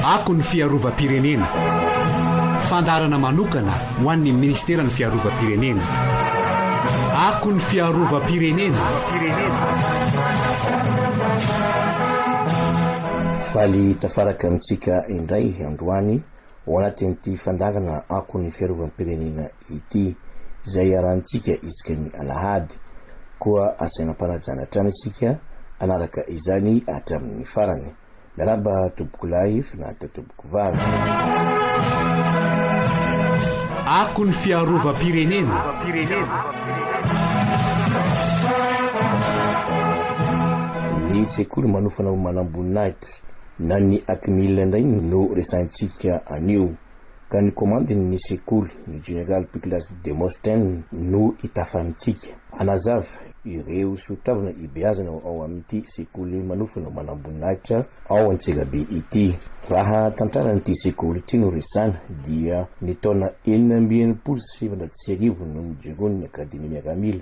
Ako ny fiarovam-pirenena. Fandaharana manokana ho an'ny Ministeran'ny Fiarovam-pirenena. Ako ny fiarovam-pirenena. Faly tafaraka amintsika indray androany. ao anatin'ity fandangana akon'ny fiarovam-pirenena ity, izay iarahantsika isaka ny alahady. Koa asaina am-panajana hatrany isika hanaraka izany hatramin'ny farany. Miarahaba tompokolahy Finaritra tompokovavy. Akon'ny fiarovam-pirenena. Ny sekoly manofa na ho manamboninahitra. Na ny Acmil indray no resahintsika anio, ka ny komandin'ny sekoly, ny General Piclas Demosthène, no itafanintsika. Hanazava ireo soatoavina ibeazana ao amin'ity sekoly manofana manamboninahitra ao Antsirabe ity. Raha tantaran'ity sekoly ity no resahina, dia ny taona enina amby enimpolo sy sivinjato sy arivo no nijoroan'ny Akademia Miaramila,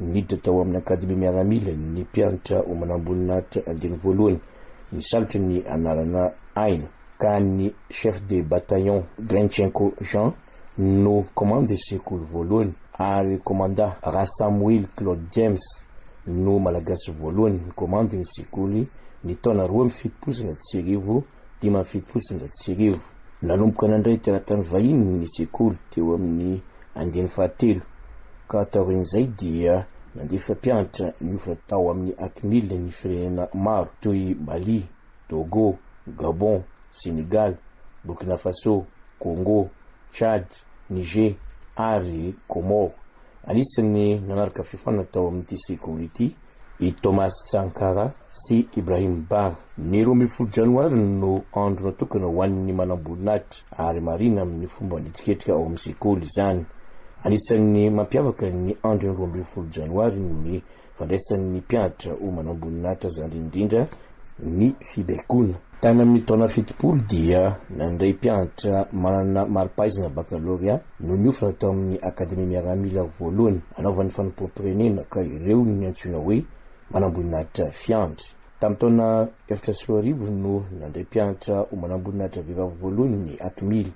Niditra tao amin'ny Akademia Miaramila ny mpianatra ho manamboninahitra andiany voalohany nisalotra ny anarana aina, ka ny Chef de Bataillon Grinchenko Jean no Komandy Sekoly voalohany, ary Komandà Rasamoily Claude James no Malagasy voalohany nikomandy ny Sekoly ny taona roa amby fitopolo sy anaty sy arivo. dimy amby fitopolo sy zato sy arivo. Nanomboka nandray teratany vahiny ny sekoly teo amin'ny andiany fahatelo ka taorian'izay dia nandefa mpianatra niofo tao amin'ny Acmil ny firenena maro toy i Mali, Togo, Gabon, Senegal, Burkina Faso, Congo, Tchad, Niger ary Comores. Anisan'ny nanaraka fiofanana tao amin'ity sekoly ity i Thomas Sankara sy Ibrahim Bar. Ny roa ambin'ny folo janoary no andro natokana ho an'ny manamboninahitra ary marihina amin'ny fomba nihetsiketrika ao amin'ny sekoly izany. Anisan'ny mampiavaka ny andron'ny roa ambin'ny folo janoary ny fandraisan'ny mpianatra ho manamboninahitra zandriny indrindra ny fibaikoana. Tany amin'ny taona fitopolo dia nandray mpianatra manana mari-pahaizana bakalorea no niofana tao amin'ny Akademia Miaramila voalohany anaovan'ny fanompoam-pirenena ka ireo no niantsoina hoe manamboninahitra fiandry. Tamin'ny taona efatra sy roa arivo no nandray mpianatra ho manamboninahitra vehivavy voalohany ny Atmil,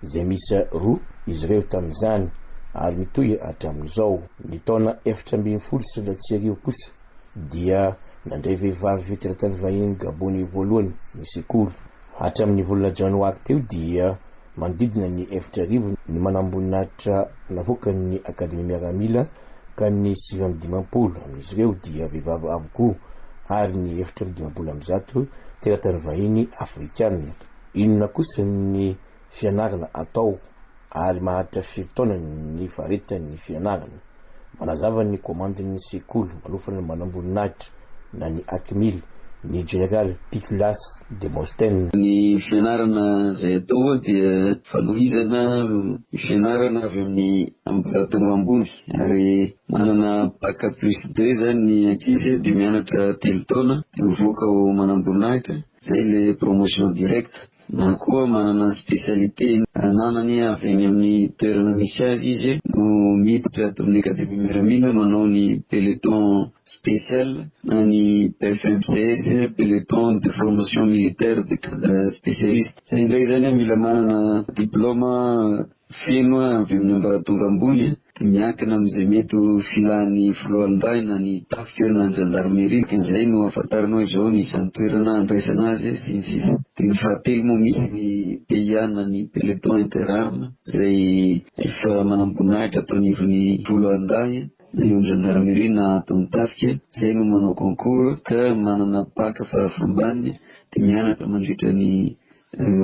izay miisa roa izy ireo tamin'izany, ary mitohy hatramin'izao. Ny taona efatra ambin'ny folo sy roanjato sy arivo kosa dia nandray vehivavy teratany vahiny gabôney voalohany ny sekoly. Hatramin'ny volana janoary teo dia. Manodidina ny efitra arivo ny manamboninahitra navoakan'ny Akademia Miaramila ka ny sivy amby dimampolo amin'izy ireo dia vehivavy avokoa ary ny efitra amby dimampolo amby zato teratany vahiny afrikana. Inona kosa ny fianarana atao ary maharitra firy taona ny faritany ny fianarana? Manazava ny komandin'ny sekoly manofa ny manamboninahitra na ny Acmil ny General Piculas Demosthène. Ny fianarana izay atao dia fanohizana ny fianarana avy amin'ny ambaratonga ambony ary manana Bac plus deux izany ny ankizy dia mianatra telo taona dia mivoaka ho manamboninahitra izay ilay promotion directe. na koa manana spécialité ananany avy any amin'ny toerana misy azy izy no miditra ato amin'ny Académie Miaramila manao ny peloton spécial na ny PFMCS, peloton de formation militaire de cadre spécialiste, izay indray izany mila manana diplôme Feno avy amin'ny ambaratonga ambony dia miankina amin'izay mety ho filàn'ny foloalindahy na ny tafika na ny zandarmeria ka izay no ahafantaranao izao ny isan'ny toerana handraisana azy sy ny sisa Dia ny fahatelo moa misy ny PIA na ny peloton interarme izay efa manamboninahitra ato anivon'ny foloalindahy na eo amin'ny zandarmeria na ato amin'ny tafika izay no manao concours ka manana bac fara fambany dia mianatra mandritra ny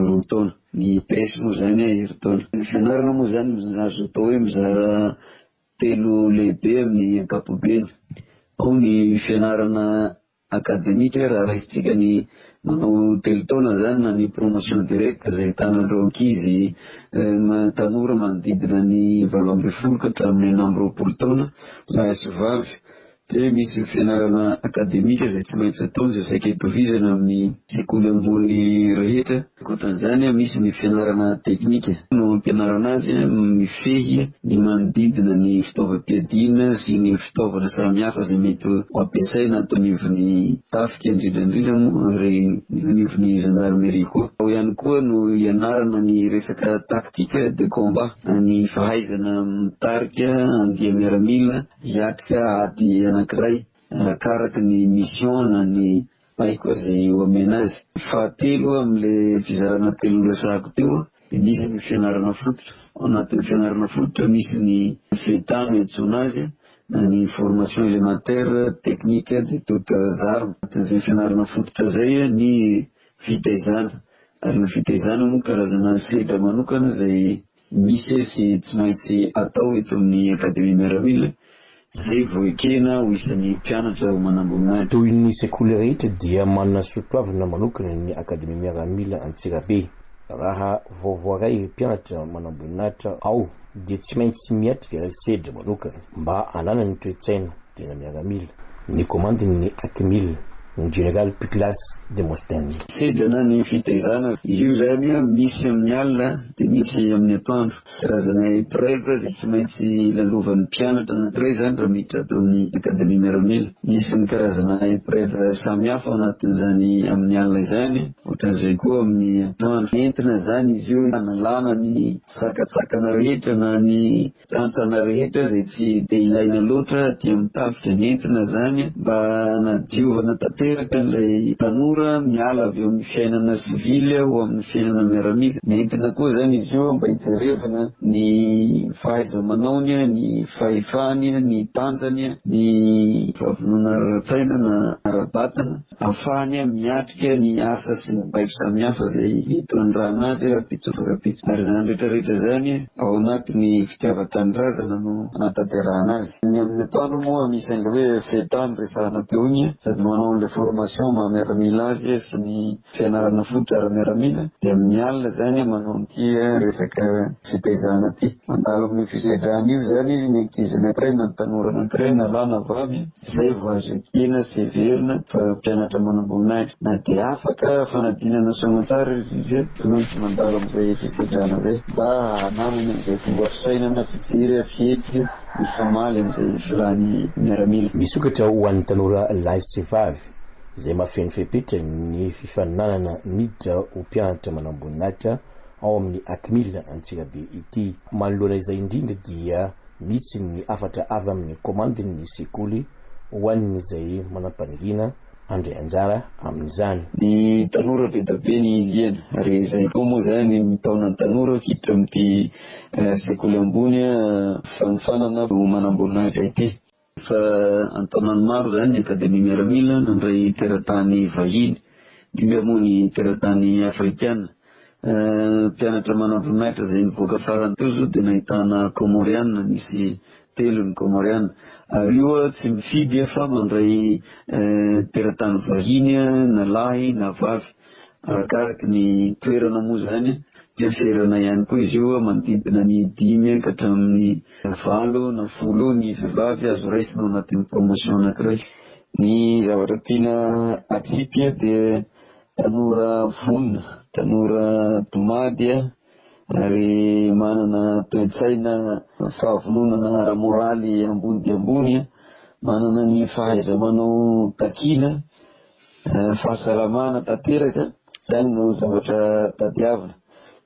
Roa taona. Ny EPS moa izany an, herintaona. Ny fianarana moa izany azo atao hoe mizara telo lehibe amin'ny ankapobeny. Ao ny fianarana akademika, raha raisintsika ny manao telo taona izany na ny promotion directe izay ahitana ireo ankizy tanora manodidina ny valo ambin'ny folo ka hatramin'ny enina amby roapolo taona lahy sy vavy. dia misy ny fianarana akademika izay tsy maintsy atao izay saika hitohizana amin'ny sekoly ambony rehetra. Ankoatran'izany, misy ny fianarana teknika no hampianarana azy mifehy ny manodidina ny fitaovam-piadiana sy ny fitaovana samihafa izay mety ho ampiasaina ato anivon'ny tafika, indrindra indrindra moa ary anivon'ny zandarimeria koa. Ao ihany koa no hianarana ny resaka tactique de combat, ny fahaizana mitarika andia-miaramila Hiatrika ady anankiray arakaraky ny mission na ny baiko izay ho amena azy. Fahatelo, amin'ilay fizarana telo noresahako teo, dia misy ny fianarana fototra. Ao anatin'ny fianarana fototra, misy ny FETA no iantsoana azy, na ny formation élémentaire technique de toutes armes. Anatin'izay fianarana fototra izay ny fitaizana. Ary ny fitaizana moa karazana sedra manokana izay. Misy sy tsy maintsy atao eto amin'ny Akademia Miaramila izay vao ekena ho isan'ny mpianatra ho manamboninahitra. Toy ny sekoly rehetra dia manana soatoavina manokana ny Akademia Miaramila Antsirabe. Raha vao voaray mpianatra manamboninahitra ao dia tsy maintsy miatrika sedra manokana mba hananany toe-tsaina Tena miaramila. Ny komandin' ny Akmil, ny jeneraly Puklas Demostheni. Sedana ny fitaizana. Io izany misy amin' ny alina dia misy amin' ny atoandro. Karazana epreuve izay tsy maintsy lalovan' ny mpianatra anankiray izany raha miditra ato amin' ny Akademia Miaramila. Misy ny karazana epreuve samihafa ao anatin' izany amin' ny alina izany, ohatran' izay koa amin' ny atoandro. Entina izany izy io hanalana ny sakantsakana rehetra na ny Mpitantsana rehetra izay tsy dia ilaina loatra dia mitafika nentina izany mba hanadiovana tanteraka an'ilay tanora miala avy eo amin'ny fiainana sivily ho amin'ny fiainana miaramila. Nentina koa izany izy io mba hijerevana ny fahaiza-manaony, ny fahefany, ny tanjany, ny fahavononany ara-tsaina na ara-batana. Afahany miatrika ny asa sy ny baiko samihafa izay hitondràna azy rahampitsotra rahampitso. Ary izany rehetrarehetra izany ao anatin'ny fitiavan-tanindrazana no anatanterahana azy. Ny amin'ny atoandro moa misy an'ilay hoe FETA noresahana teo iny, sady manao an'ilay formation maha miaramila azy sy ny fianarana fototra ara-miaramila, dia amin'ny alina izany manao an'ity resaka fitaizana ity. Mandalo amin'io fisedrana io izany ny ankizy anankiray na ny tanora anankiray na lahy na vavy Izay vao azo ekena sy heverina fa mpianatra manamboninahitra. Na dia afaka fanadinana soamantsara ry Zize, tokony tsy mandalo amin'izay fisedrana izay, mba hananany an'izay fomba fisainana, fijery, fihetsika mifamaly amin'izay filàn'ny miaramila. Misokatra ho an'ny tanora lahy sy vavy, izay mahafeno fepetra ny fifaninanana miditra ho mpianatra manamboninahitra, ao amin'ny Acmil Antsirabe ity. Manoloana izay indrindra dia misy ny hafatra avy amin'ny komandin'ny sekoly ho an'izay manam-paniriana handray anjara amin'izany. Ny tanora be dia be ny iliana ary izay koa moa izany mitaona ny tanora hiditra amin'ity sekoly ambony fanofanana ho manamboninahitra ity. Efa an-taonany maro izany ny Akademia Miaramila nandray teratany vahiny dimy ary moa ny teratany afrikana. Mpianatra manamboninahitra izay nivoaka farany teo izao dia nahitana Kômôriana, nisy telo ny Kômôriana. Ary io tsy mifidy fa mandray teratany vahiny na lahy na vavy. Arakaraky ny toerana moa izany dia ferana ihany koa izy io, manodidina ny dimy ka hatramin'ny valo na folo ny vehivavy azo raisina ao anatin'ny promotion anankiray. Ny zavatra tiana atsipy dia tanora vonona, tanora domady ary manana toe-tsaina fahavononana ara-moraly ambony dia ambony, manana ny fahaiza-manao takiana, Fahasalamana tanteraka, izany no zavatra tadiavina.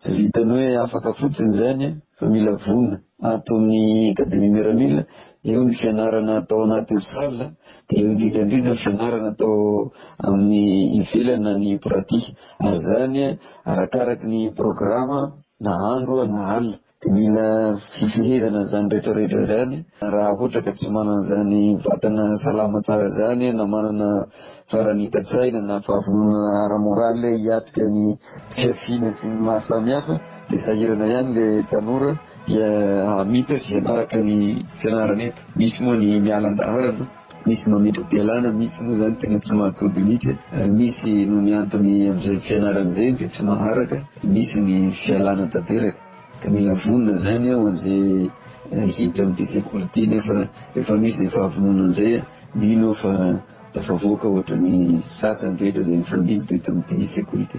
Tsy vitan'ny hoe afaka fotsiny izany fa mila vonona. Ato amin'ny Académie Miramila, eo ny fianarana atao anatin'ny salle, dia eo indrindra indrindra ny fianarana atao amin'ny ivelany na ny pratique. Ary izany arakaraky ny programa na andro na alina. Dia mila fifehezana izany rehetra rehetra izany, raha ohatra ka tsy manana izany vatana salama tsara izany na manana faranitan-tsaina na fahavononana ara-moraly hiatrika ny fihafiana sy ny maro samihafa dia sahirana ihany ilay tanora dia hamita sy hanaraka ny fianarana eto, misy moa ny miala an-dalana. Misy mametra-pialana, misy moa izany tena tsy mahatody mihitsy, misy noho ny antony amin'izay fianarana izay dia tsy maharaka, misy ny fialana tanteraka. Ka mila vonona izany ho an'izay hiditra amin'ity sekoly ity nefa efa misy izay fahavononana an'izay, mino aho fa tafavoaka ohatra ny sasany rehetra izay nifandimby teto amin'ity sekoly ity.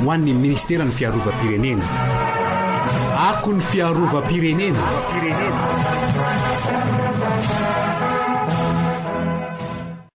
Ho an'ny Minisiteran'ny Fiarovam-pirenena. Ako ny Fiarovam-pirenena!